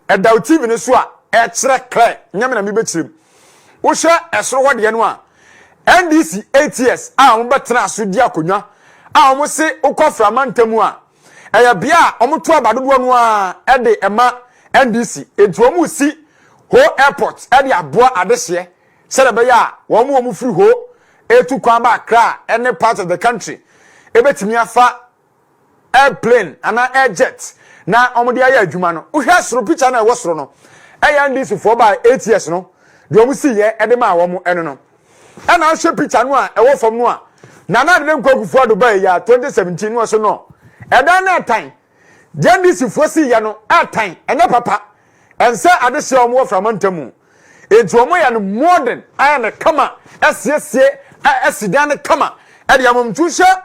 Ɛda wo TV no so a, ɛkyerɛ clear. Nyɛ me na mebɛkyerɛ mu. Wohwɛ ɛsoro hɔ deɛ no a, NDC eight years a wɔbɛtena so di akonnwa a wɔn se wokɔ fra mantam a, ɛyɛ bea a wɔto aba dodoɔ no ara de ɛma NDC. Nti wɔn resi Ho Airport de aboa adehyeɛ sɛdeɛ ɛbɛyɛ a wɔn a wɔfiri hɔ retu kwan ba Accra a ɛne part of the country bɛtumi afa airplane anaa air jet na wɔde ayɛ adwuma no. Wohwɛ soro picture no a ɛwɔ soro no, ɛyɛ NDC foɔ baa eight years no deɛ wɔn si yɛ de maa wɔn ɛno no. Ɛna ahwɛ picture no a ɛwɔ fam no a Nana Adedɛ Nkwakufoɔ Ado baa yɛ 2017 no ɔso no ɛdan no ɛtan Gyendisfoɔ si yɛ no ɛtan, ɛnyɛ papa, ɛnsɛ adehyeɛ a wɔn wɔ frama ntamu. Enti wɔn yɛ no modern, ayɛ no kama, asiesie asidan no kama, ɛde ama mu. Nti wohyɛ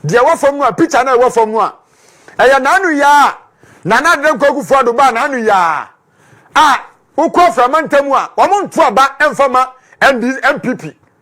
deɛ ɛwɔ fam no a, picture no a ɛwɔ fam no a, ɛyɛ n'ano yaa a, Nana Adeda Nkoa Kufuor Addo baa n'ano yaa a, wokɔ frama ntamu a, wɔn nto aba ɛmfa ma ND, NPP.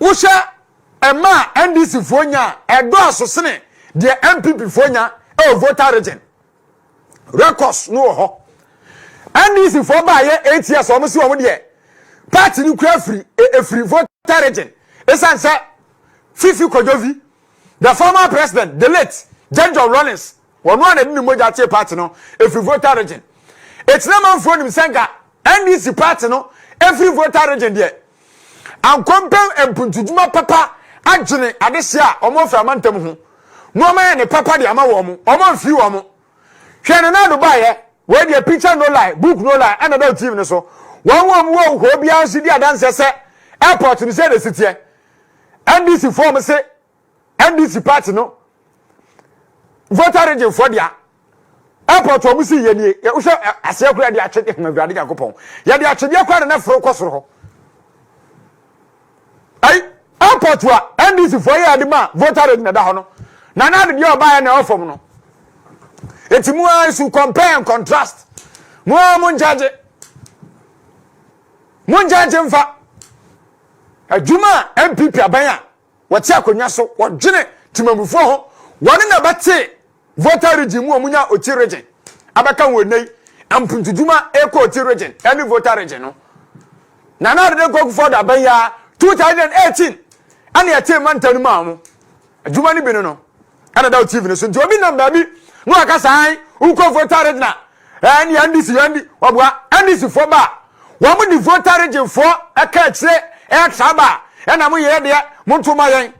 Wohwɛ ɛma a NDC foɔ nya a, ɛdɔɔso sene deɛ NPP foɔ nya ɛwɔ voter region. Records no wɔ hɔ. NDC foɔ baayɛ eight years wɔn si wɔn deɛ party no kura firi efiri voter region esan sɛ Fifi Kojovi, the former president, the late Jane John Rawlings. Wɔn a na ɛde ne mogya tee party no firi Volta Region. Ekyina manfoɔ nim sɛ nka NDC party no firi Volta Region deɛ, anka wɔmpɛ mpuntudwuma papa adwene adehyeɛ a wɔn firi amantam ho na wɔn ayɛ ne papa de ama wɔn. Wɔn amfiri wɔn. Hwɛ Nana Addo baeɛ, wei deɛ picture no lie, book no lie ɛna ɛda TV no so. Wɔn wɔ mu wɔ hɔ biara nso di adanseɛ sɛ airport no sɛ na ɛsiteɛ. NDC foɔ wɔn se NDC party no voter region fo dia airport wɔn si yɛ nie yɛ wohwɛ aseɛ kura de atwe de hama awurade nyankopɔn yɛde atwedeɛ kora de na foro kɔ soro hɔ ayi airport wa ndc fo yɛ ade ma voter region ɛda hɔ no na na ade deɛ ɔbaeɛ na ɛwɔ no eti mu ara nso compare and contrast mu ara mu nkyɛgye mu nkyɛgye mfa adwuma npp aban a Wɔte akonnwa so, wɔdwene temamufoɔ ho, wɔn na bɛte Volta Region mu, wɔn nya Oti Region abɛka ho ɛnɛ yi, mpuntudwuma ɛkɔ Oti Region ɛne Volta Region no. Nana Adede Nkoa Kufuor da bɛn ya 2018 ɛne ɛte manta no mu a wɔn adwuma no bi no no. ɛna da tv no so nti obi nam baabi na waka saa wokɔ voter region a ɛɛ ne ndc yɛ ndi wɔboa ndc foɔ ba wɔn mo de voter region foɔ ɛka akyire ɛtra ba ɛna mo yɛ deɛ mo nto ma yɛn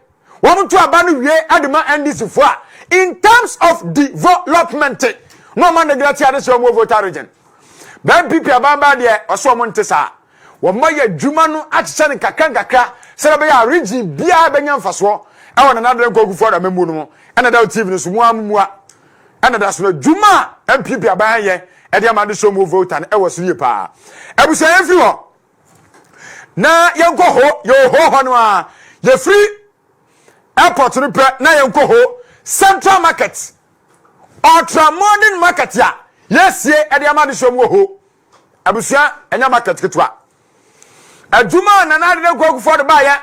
wɔn mo to aba no wie ɛde ma ndc foɔ a in terms of development na wɔn neglect ade sɛ wɔn voter region bɛn pp abanbaa deɛ ɔsɛ wɔn nte saa. Wɔayɛ adwuma no akyekyɛ no nkakrankakra sɛdeɛ ɛbɛyɛ a region biara bɛnya mfasoɔ wɔ Nana Addo Dankwa Akuffo-Addo amammuo no ho. Ɛna da wɔ TV no so, mo ara mo mua. Ɛna da so no, adwuma a NPP aban ayɛ de ama adesoa mu voter no wɔ so yie paa. Abusua yɛmfiri hɔ na yɛnkɔ ho, yɛwɔ ho hɔ no ara, yɛfiri airport no pɛ na yɛnkɔ ho Central Market, Ultra Modern Market a yɛasie de ama adesoa mu wɔ ho. Abusua, ɛnyɛ market ketewa. Adwuma a Nana Ade Dankwa Akufoɔ de baeɛ,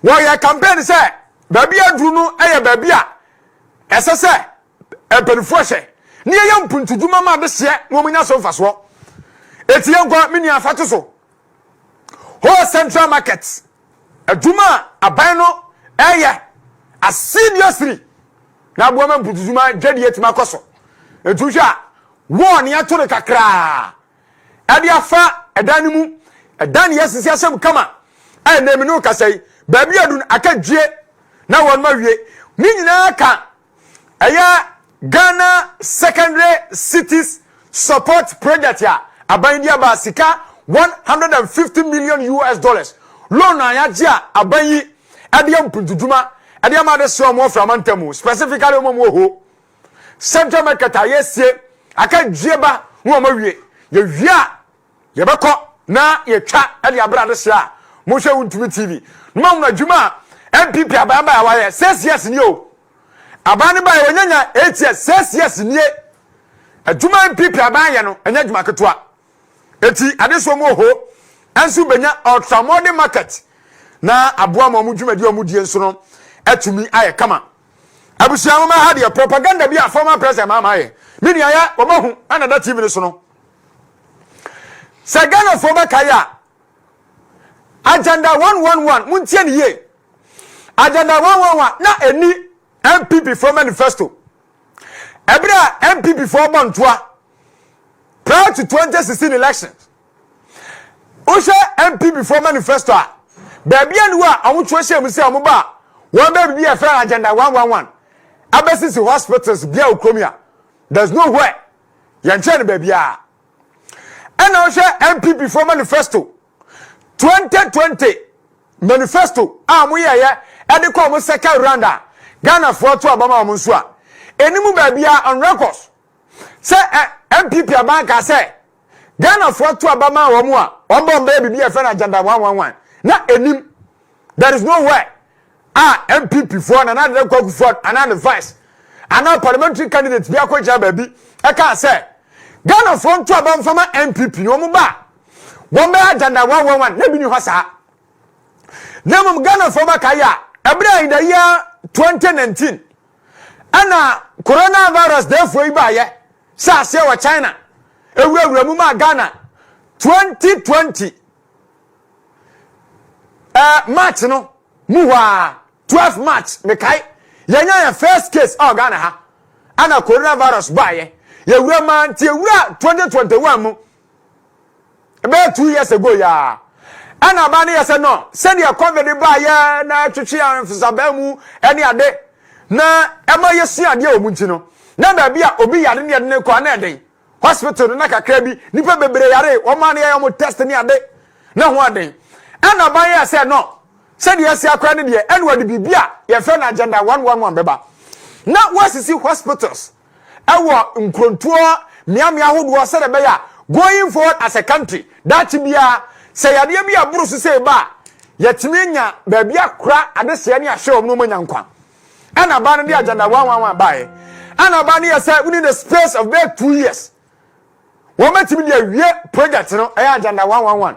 wɔyɛ campaign sɛ baabi aduru no yɛ baabi a ɛsɛ sɛ mpanimfoɔ hyɛ ne yɛyɛ mpuntudwuma ma adehyeɛ na wɔnya so mfasoɔ. Eti yɛn nkɔ me nua fato so. Whole Central Market, adwuma a aban no ɛyɛ asidiously na aboa ma mpuntudwuma dwadie tumi akɔ so. Nti wohwɛ a Wɔɔ nea ɛtore kakraa de afa ɛdan no mu. Ɛdan no yɛ sisi ahyɛm kama. Ɛnnɛ me ne wo kasa yi, baabi a adu no aka dwie na wɔn ma wie. Ne nyinaa ka ɛyɛ Ghana Secondary Cities Support Project a aban de aba sika 150 million US dollars loan a yɛagye a aban yi ɛde yɛ mpuntudwuma ɛde ama adesoa wɔn afra amantam specifically wɔn wɔn wɔ hɔ. central market a yɛasie aka dwie ba na wɔn awie yɛwie a yɛbɛkɔ na yɛtwa de abere adehye a mohwɛ wo ntumi tv na ma wɔn adwuma a npp aban bae a wayɛ six years nie o aban no bae wɔnyanya eight years six years nie adwuma npp aban yɛ no ɛnyɛ adwuma ketewa eti adesoɔ mu oho nso benya ultramodern market na aboa ma wɔn dwumadi a wɔn die nso no atumi ayɛ kama. Abusua nwoma ha deɛ propaganda bi a former president Mahama ayɛ. Me nua yɛ wɔahu ɛna da TV no so no. Sɛ Ghanafoɔ bɛkae a agenda 111 montie ne yie. Agenda 111 na ɛni MPP foɔ manifesto. Ɛberɛ a MPP foɔ bɔ ntoa prior to 2016 elections. Wohwɛ NPP foɔ manifesto a, baabi a ne wɔ a wɔtwerɛ hyɛ mu sɛ wɔn ba a wɔn bɛ biribi a ɛfɛ no agenda 111 abɛsisi hospitals bia wɔ kurom a there's no where yɛnkyerɛ no baabiara ɛna wohwɛ NPP foɔ manifesto 2020 manifesto a wɔyɛyɛ ɛde kɔ wɔn second round a Ghana foɔ to abama wɔn nso a ɛnimu baabiara on records sɛ NPP aban kaa sɛ Ghanafoɔ ato aba maa wɔn a wɔbɔ wɔn bɛyɛ biribi a yɛfrɛ no agenda one one one na ɛnim there is no where a NPP foɔ Nana Addo Dankwa Akufo anaa ne vice anaa parliamentary candidate bi akɔgyina baabi ɛkaa sɛ Ghanafoɔ nto aba mfama NPP na wɔn ba a wɔn bɛyɛ agenda one one one na ebi ni hɔ saa na mmom Ghanafoɔ bɛka yɛ a ɛberɛ a yɛda yɛ 2019 ɛna coronavirus deefoɔ yi baayɛ Sɛ aseɛ wɔ China awurawura mu maa Ghana 2020 eh, March no mu hɔ a 12 March mekae yɛnya yɛn first case ɛwɔ Ghana ha ana coronavirus baayɛ yɛwura maa nti ɛwura 2021 mu ɛbɛyɛ two years ago yi ara ɛna aba ne yɛ sɛ no sɛdeɛ covid baayɛ na ɛtwetwe ahwefosabaa mu ɛne ade na ɛma yɛsua adeɛ wɔ mu nti no na baabi a obi yare ne yɛde ne kɔ ana ɛden hospital no na kakra bi nipa bebree yare wɔn a ne yɛ wɔn test ne ade na ho aden ɛna aba yɛ sɛ no sɛdeɛ ɛsi akora ne deɛ ɛna wɔde biribi a yɛfɛ no agenda one one one bɛba na wɔasisi hospitals wɔ nkrontoɔ mmeammea ahodoɔ sɛdeɛ ɛbɛyɛ a going forward as a country daakye biara sɛ yadeɛ bi a ɛboro so sei ba a yɛatumi anya baabi akora adehyɛ ne ahwɛ wɔn na wɔanya nkwa ɛna abaa no de agenda wanwanwan baeɛ ɛna abaa no yɛ sɛ within the space of bɛyɛ two years wɔbɛtumi de awie project no ɛyɛ agenda wanwanwan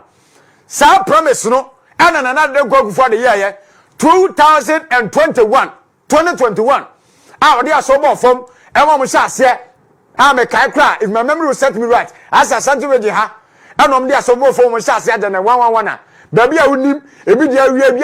saa promise no ɛna nana de nkɔ akufo de yɛɛyɛ 2021 twenty twenty one a ɔde asɔw bɔɔ fam ɛma ɔmo hyɛ aseɛ a mekae kora if my memory will set me right asɛ asante regye ha ɛna ɔmo de asɔw bɔɔ fam ɔmo hyɛ aseɛ agya na one one one a baabi a wonim ebi deɛ awia ebi